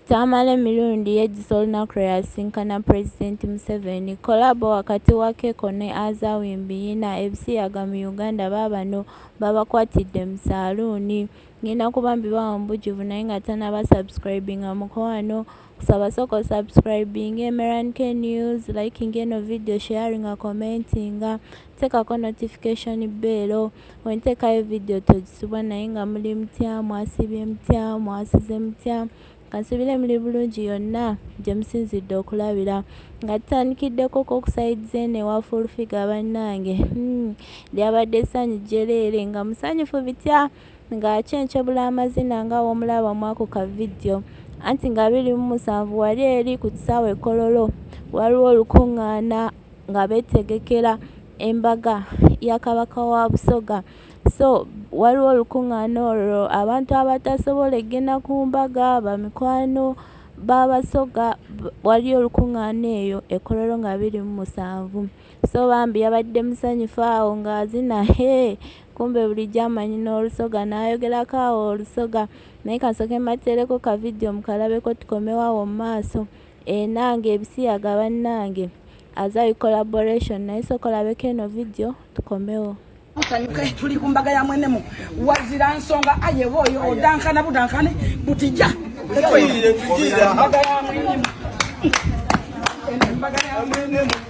Tamale Mirundi yejjusa olunaku lwe yasisinkana Pulezidenti Museveni. Kolabo wakati wa Keko ne Azawi Biyina ebisiyaga mu Uganda baabano babakwatidde mu saaluuni. Ngenda kuba mbibawa mu bujjuvu naye nga tannaba subscribinga mukwano kusaba sooka osubscribinge Merank News, likinga eno vidiyo, sharinga, commentinga, teekako notification bell. wentekayo video togisubwa naye nga muli mutya mwasibye mutya mwasize mutya kansubire muli bulungi yonna gye musinzidde okulabira nga tutandikiddeko kokusayidiza eno ewa fulfiga bannange hmm, lyabadde essanyu jjereere nga musanyufu bitya nga kyenkyebula amazina nga womulaba mwako ka vidiyo anti nga biri mu musanvu wali eri ku kisaawe kololo waliwo olukuŋŋaana nga beetegekera embaga ya Kabaka wa Busoga. So waliwo olukuŋŋaana olwo abantu abatasobola egenda ku mbaga bamikwano b'Abasoga waliyo olukuŋŋaana eyo e Kololo nga biri mu musanvu. So bambi yabadde musanyufu awo ng'azina hee kumbe bulijjo amanyi n'olusoga n'ayogerako awo olusoga naye kasooke mbateereko ka vidiyo mukalabeko tukomewo awo mu maaso. Enange ebisiyaga banange as I collaboration naye soka olabeko eno video tukomewo tusanyuke tuli ku mbaga ya mwenemu wazira nsonga ayewa oyo odankana budankane butija mbaga ya mwenemu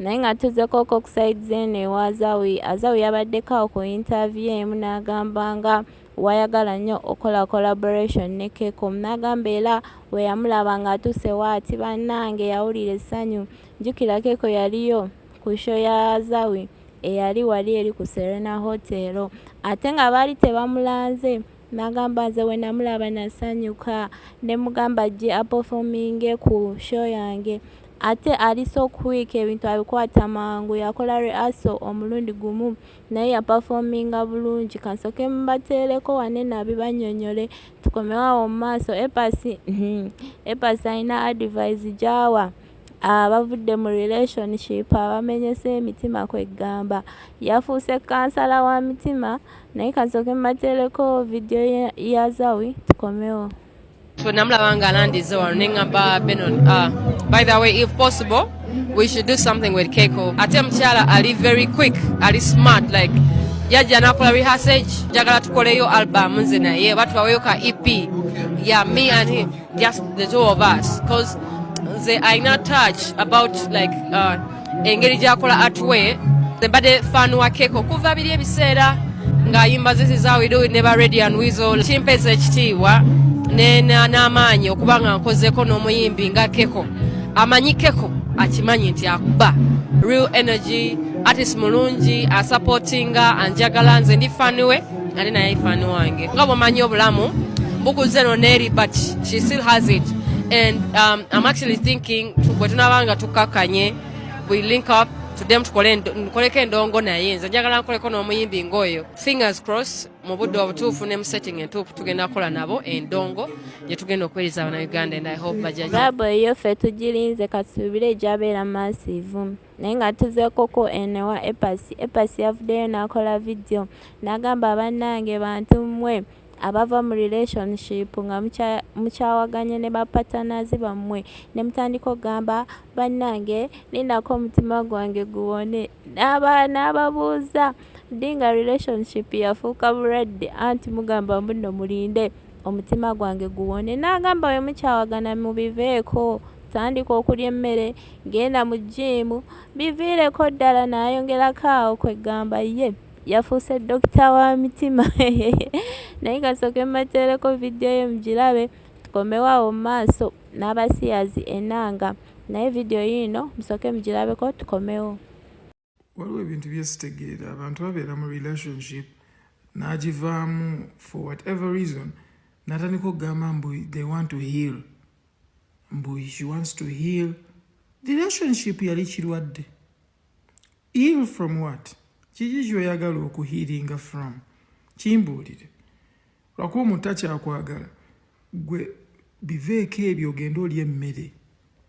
naye nga tuzeko ko kuside zeno ewa azawi azawi yabaddeko awo ku interview emu n'agamba nga wayagala nnyo okola collaboration ne kekom n'agamba era weyamulaba nga atuuse waati bannange yawulira essanyu njukira keko yaliyo ku sho ya azawi eyali wali eri ku serena hotel ate nga baali tebamulanze Nagamba nze wenamulaba nasanyuka nemugamba ajje aperforminge ku show yange ate ali so quick ebintu abikwata mangu yakola reaso omulundi gumu naye yaperforminga bulungi kansoke mubateereko wane nabibanyonyole tukomewawo mu maaso epasi hmm, epasi alina advise gyawa abavudde mu relationship abamenyese emitima kweggamba yafuuse kansala wa mitima naye kasooke mbateereko vidiyo ya zawi tukomewo so namulaba nga alandize wano neŋamba benon ah, by the way if possible we should do something with keko ate mukyala ali very quick ali smart like yajja nakola rehearsage njagala tukoleyo album nze naye batubaweyo ka ep ya yeah, me and him just the two of us because nze alina touch about like uh, engeri gyakola atwe nembadde fan wa keko okuva biri ebiseera ng'ayimba zizi za widowi ne ba radian wizo kimpeza ekitiibwa n'amaanyi okuba nga nkozeko n'omuyimbi nga keko amanyi keko akimanyi nti akuba real energy artist mulungi asapotinga anjagala nze ndi faniwe ate naye ifani wange nga bwomanyi obulamu bukuze no neri but she still has it and um, i'm actually thinking bwe tunaba nga tukakkanye we link up tudemu tukoleko endongo naye nze njagala nkoleko n'omuyimbi ngaoyo fingers cross mu budde obutuufu ne mu setting entuufu tugenda kukola nabo endongo gye tugenda okuweereza abana uganda and i hope bajaja eyo ffe tugirinze katusuubire egyabeera massive naye nga tuzeekoko eno ewa epasi epasi yavuddeyo n'akola vidiyo n'agamba bannange bantu mmwe abava mu relationship nga mukyawaganye ne bapatanazi bammwe ne mutandika okugamba bannange ninako omutima gwange guwone n'aba n'ababuuza ddi nga relationship yafuuka bulwadde anti mugamba mbuno mulinde omutima gwange guwone n'agamba bwe mukyawagana mubiveeko tandika okulya emmere genda mu jjiimu biviireko ddala n'ayongerako awo kwe ggamba ye yafuuse dokita wa mitima naye kasooke mbateereko vidiyo ye mugirabe tukomewo awo mu maaso n'abasiyazi enanga naye vidiyo yiino musooke mugirabeko tukomewo waliwo ebintu byesitegeera abantu babeera mu relationship n'agivaamu for whatever reason natandika okugamba mbu they want to heal mbu she wants to heal the relationship yali kirwadde heal from what kiki kyoyagala okuhiiringa from kimbuulire lwakuba omuntu akyakwagala gwe biveeko ebyo ogende oli emmere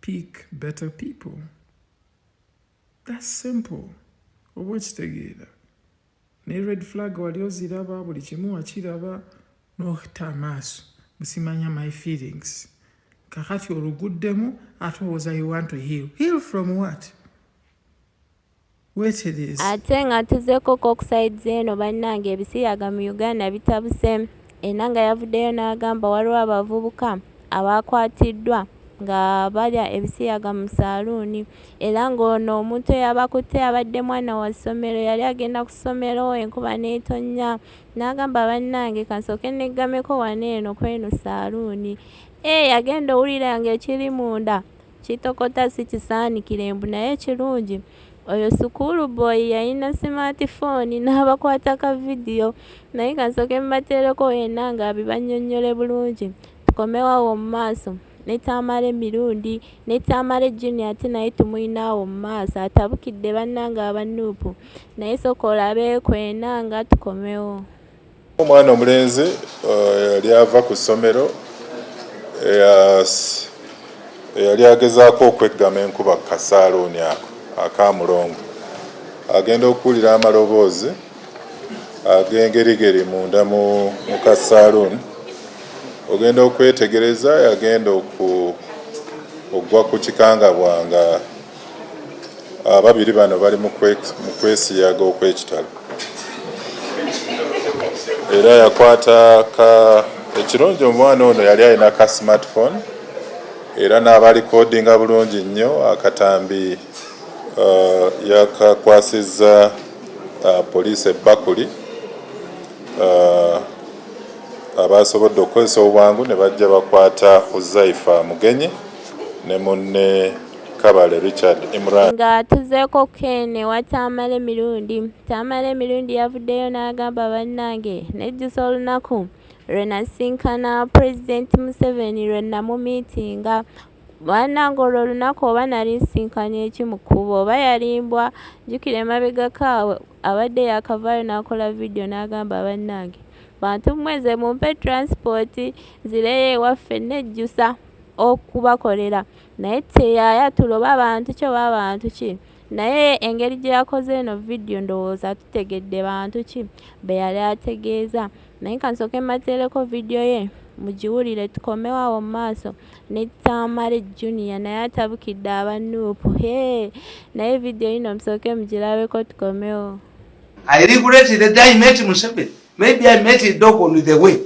pick better people thats simple oba okitegeera ne red flag wali oziraba buli kimu wakiraba nohita amaaso musimanya my feelings kakati oluguddemu ate owoza you want to heal heal from what ate nga tuzeko kokusaids eno bannange ebisiyaga mu uganda bitabuse enanga yavuddeyo n'agamba waliwo abavubuka abaakwatiddwa nga balya ebisiyaga mu saaluuni era ng'ono omuntu eyabakutte abadde mwana wa ssomero yali agenda ku ssomero enkuba n'etonnya n'agamba bannange kansooke neggameko wano eno kweno saaluuni ee eh, yagenda owulira ng'ekiri munda Kitokota sikisaanikire mbu naye ekirungi oyo school boy yalina smart phone n'abakwata ka video naye kansooke mbateereko yenna nga abibannyonnyole bulungi tukomewo awo mu maaso ne Tamale Mirundi ne Tamale Junior ate naye tumulina awo mu maaso atabukidde bannange aba Nuupu naye sooka olabeeko enanga tukomewo. Omwana omulenzi yali eh, ava ku ssomero eh, yali agezaako okweggama enkuba ku kasaaluuni ako akamulongo agenda okuwulira amaloboozi ag'engerigeri munda mu kasaaluuni ogenda okwetegereza yagenda okugwa ku kikangabwa nga Ababiri bano bali mu kwesiyaga okw'ekitalo era yakwata ka ekirungi omwana ono yali alina ka smartphone era n'abalikodinga bulungi nnyo akatambi uh, yakakwasizza uh, poliisi ebbakuli uh, abaasobodde okukozesa obwangu ne bajja bakwata huzaifa mugenyi ne munne Kabale Richard Imran. Nga tuzeeko Ken ewa Tamale Mirundi. Tamale Mirundi yavuddeyo n'agamba bannange nejjusa olunaku lwe nasinkana Pulezidenti Museveni lwe namumiitinga bannange olwo olunaku oba nali nsinkanye ki mu kkubo oba yalimbwa jjukira emabegako awo abadde yakavaayo n'akola vidiyo n'agamba bannange bantu mmweze mumpe transipooti zireyo ewaffe nejjusa okubakolera Naye teyaya tuloba bantu ki oba bantu ki naye engeri gye yakoze eno vidiyo ndowooza tutegedde bantu ki be yali ategeeza naye kansooke mmateereko vidiyo ye mugiwulire tukomewo awo mu maaso ne tamale junia naye atabukidde aba nuupu hee naye vidiyo yino musooke mugirabeko tukomewo I regretted the day I met Museveni. Maybe I met a dog on the way.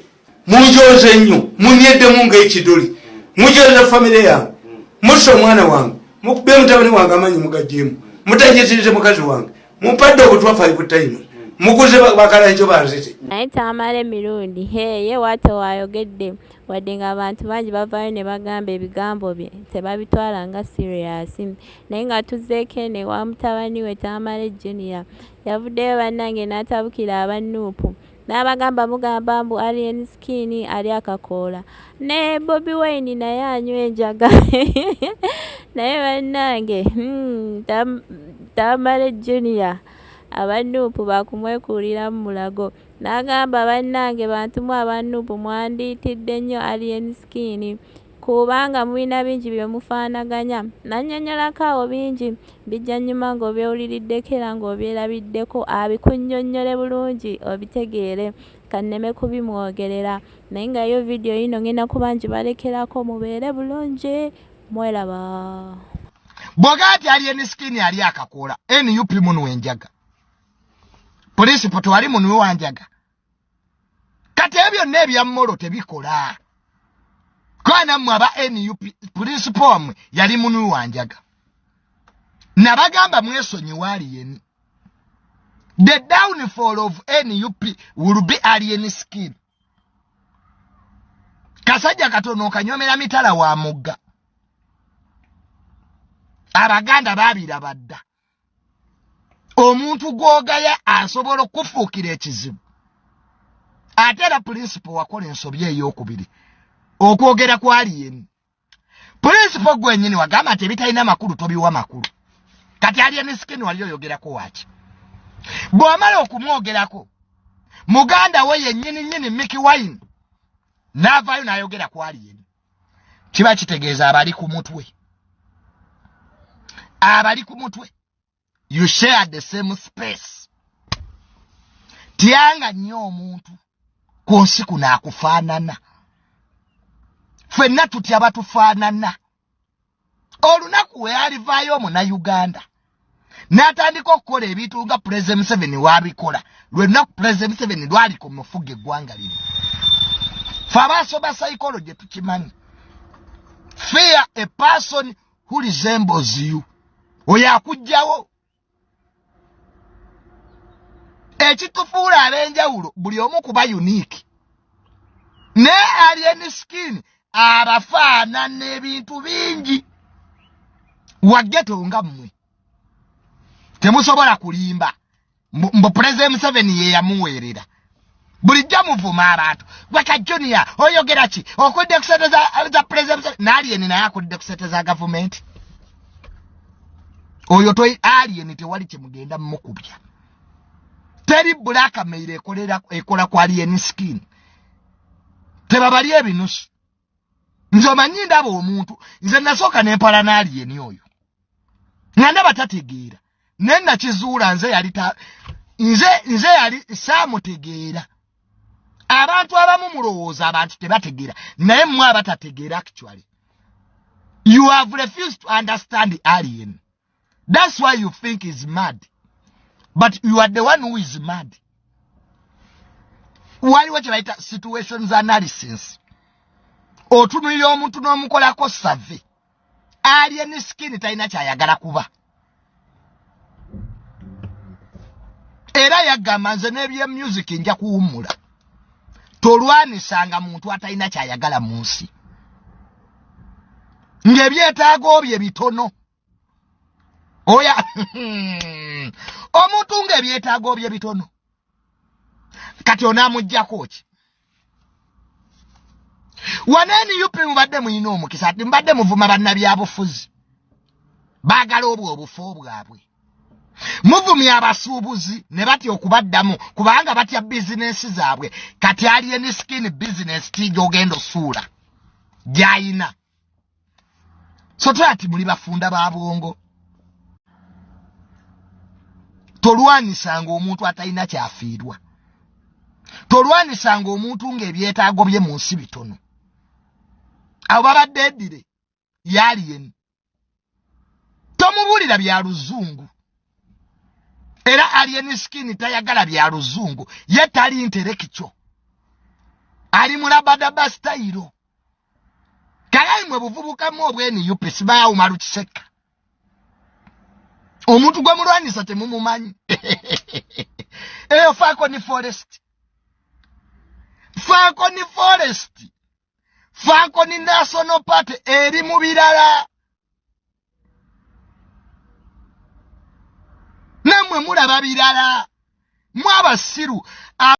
munjooze nnyo munyeddemu ngaekiduli mujooze famire yange musa omwana wange mukube mutabani wange amanyi mugajemu mutanyitirize mukazi wange mumpadde obutwa five times mukuze bakalanjo banzite naye tamale mirundi heye wate wayogedde wadde nga abantu bangi bavayo ne bagamba ebigambo bye tebabitwala nga siriyasi naye nga tuzeeko ene wa mutabani we tamale junior yavuddeyo bannange n'atabukira abannuupu Nabagamba mugamba mbu alien skin ali akakoola ne bobi wine naye anywa enjaga naye bannange hmm, tamale junior abanuupu bakumwekuulira mu mulago n'agamba bannange bantu mwe abanuupu mwandiitidde nnyo alien skin Kubanga mulina bingi bye mufaanaganya. Nnannyonnyolako awo bingi. Bijja nnyuma ng'obyewuliriddeko era ng'obyerabiddeko, abikunnyonnyole bulungi obitegeere. Ka nneme kubimwogerera. Naye nga yo vidiyo yiino ngenda kuba njibalekerako mubeere bulungi. Mweraba. Bwogaa nti ali eni skin ali akakoola nup munu enjaga. Polisi poto ali munu wanjaga. kati ebyo byonna ebya molo tebikola kwana mmwe aba nup pulinsipo wammwe yali munu wanjaga nabagamba mwesonyiwa aliyeni the downfall of nup will be alien skin kasajja katono okanyomera mitala wa mugga abaganda babirabadda omuntu gwogaya asobola okufuukira ekizibu ate era pulinsipo wakola ensobi eyokubiri okwogera kwali yemu pulinsipo gwenyini wagamba nti ebitalina makulu tobiwa makulu kati alya ne sikeni wali oyogerako waki bw'omala okumwogerako muganda we yennyini nnyini miki wine n'avaayo n'ayogera kwali yemu kiba kitegeeza abali ku mutwe abali ku mutwe you share the same space tyanga nnyo omuntu ku nsi kuno akufaanana ffenna tutya batufaanana olunaku wealivaayo omunayuganda n'atandika okukola ebintu nga pulezida museveni wabikola lwe lunaku pulezida museveni lwali ku mufuga eggwanga lino fe abaasoma psychology tukimanyi fear a person who resembles you oyo akugjawo ekitufuula ab'enjawulo buli omu kuba unique ne alien skin abafaanana ebintu bingi wageto nga mmwe temusobola kulimba mbu pulezidenti museveni yeyamuweerera bulijjo muvuma abantu gwe ka junior oyogera ki okudde ku sente za president naaliyeni naye akudde ku sente za gavumenti oyo to aliyeni tewali kyemugenda mukubya teri bulakameire ekola ku aliyeni skin tebabalya ebinusu nze omanyi ndaba omuntu nze nasooka nempala naaliyeni oyo nga ndaba tategeera naye nakizuula nze yali ta nze nze yali saamutegeera abantu abamu mulowooza abantu tebategeera naye mmwe abatategeera actually you have refused to understand alien That's why you think he's mad. But you are the one who is mad. Waliwo kye bayita situations analysis. Otunulira omuntu n'omukolako save. Alien skin talina kyayagala kuba. Era yagamba nze n'ebye music nja kuwummula. Tolwanisanga muntu atalina kyayagala mu nsi. Ng'ebyetaago bye bitono. oya omuntu nga ebyetaago bye bitono kati onamujjako ki waneni up mubadde muyina omukisa ati mubadde muvuma bannabyabufuzi baagala obwo obufo bwabwe muvumya abasuubuzi ne batya okubaddamu kubanga batya bizinensi zaabwe kati alieni skin bizinensi tiija ogenda osuula gyayina so twati muli bafunda ba bwongo tolwanisanga omuntu atalina kyafiirwa tolwanisanga omuntu ng'ebyetaago bye mu nsi bitono abo babadde edire yaliyeni tomubulira bya luzungu era alien skin tayagala bya luzungu ye tali interekico ali mulabadaba sitayiro kalayi mwe buvubukamu obweni upes baawuma lukiseka omuntu gwe mulwanyisa temumumanyi eyo faako ni forest faako ni forest fankoni national party eri mu birala namwe mulaba birala mwabasiru